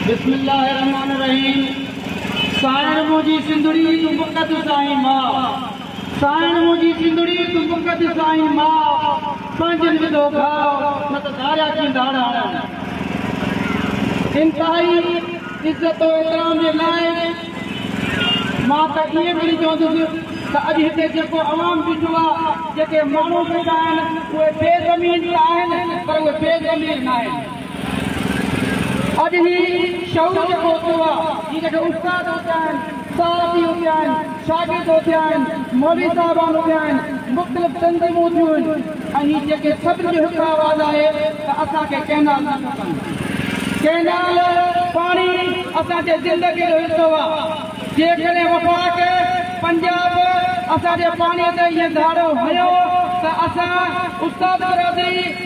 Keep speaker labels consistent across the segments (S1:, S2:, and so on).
S1: بسم الله الرحمن الرحيم سانئڻ منهنجي سنڌڙي تون پڪ ته سائين ماء سانئڻ منهنجي سنڌڙي تون پڪ ته سائين ماء پنهنجن وڌو ڀاء نه ته ڌاريا ڪين ڌاڙ هڻن انتهائي عزت و احترام جي لائق مان ته ائين پڻ چوندس ته اڄ هتي جيڪو عوام بيٺو آهي جيڪي ماڻهو بيٺا آهن اهي بي ضمير ته آهن پر اهي بي ضمير ناهن. اڄ هي شعور جيڪو اٿيو آ جي جيڪي استاد اٿيا آهن، صحافي اٿيا آهن، شاگرد اٿيا آهن، مولوي صاحبان اٿيا آهن، مختلف تنظيمون اٿيون آهن ۽ هي جيڪي سڀني جو هڪ آواز آهي ته اسان کي ڪئنال نه کپن. ڪئنال، پاڻي، اسان جي زندگي جو حصو آ. جيڪڏهن وفاق، پنجاب، اسان جي پاڻي تي ائين ڌاڙو هنيو ته اسان استاد برادري،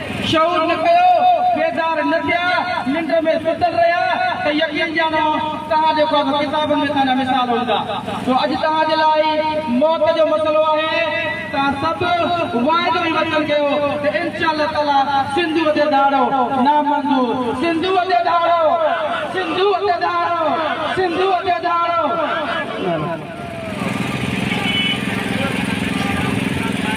S1: شعور نه ڪيو، بيدار نه ٿيا، ننڊ ۾ ستل رهيا ته يقين ڄاڻو توهان جو ڪو به ڪتابن ۾ توهان جا مثال هوندا. سو اڄ توهان جي لاء موت جو مسئلو آهي. توهان سڀ واعدو ۽ وچن ڪيو ته انشاء الله تعاليٰ سنڌوء تي ڌاڙو نامنظور، سنڌوء تي ڌاڙو، سنڌوء تي ڌاڙو، سنڌوء تي ڌاڙو.